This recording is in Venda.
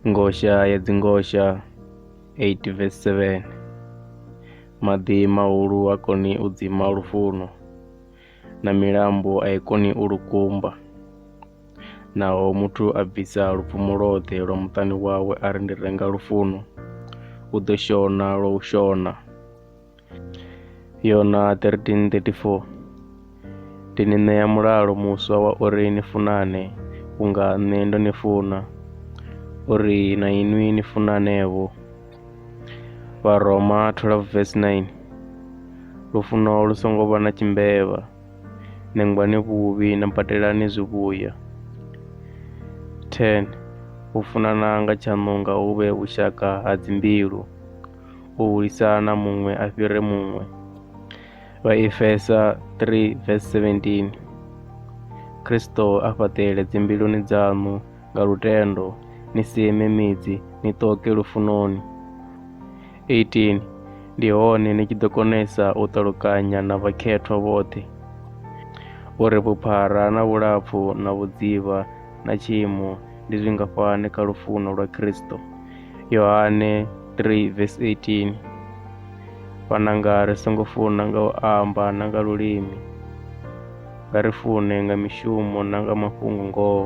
Ngosha ya dzingosha 8 verse 7 Maḓi mahulu ha koni u dzima lufuno, na milambo a i koni u lukumba. Naho muthu a bvisa lupfumo lwoṱhe lwa muṱani wawe a ri ndi renga lufuno, u ḓo shona lwa u shona. Yona 13:34 Ndi ni ṋea mulalo muswa wa uri ni funane vhunga nṋe ndo ni funa, uri na inwi ni funane-vho. Vharoma 12 verse 9 Lufuno lu songo vha na tshimbevha, nengwani vhuvhi na badelani zwivhuya. 10 U funana nga tshaṋu nga hu vhe vhushaka ha dzimbilu. u hulisana muṅwe a fhire muṅwe. Vhaefesa 3 verse 17 Kristo a fhaṱele dzimbiluni dzaṋu nga lutendo ni seme midzi ni ṱoke lufunoni 18 ndi hone ni tshi ḓo konesa u ṱalukanya na vhakhethwa vhoṱhe uri vhuphara na vhulapfu na vhudzivha na tshiimo ndi zwingafhani kha lufuno lwa Kristo. Yohane 3 vesi 18 Vhananga ri songo funa nga u amba na nga lulimi, nga ri fune nga mishumo na nga mafhungo ngoho.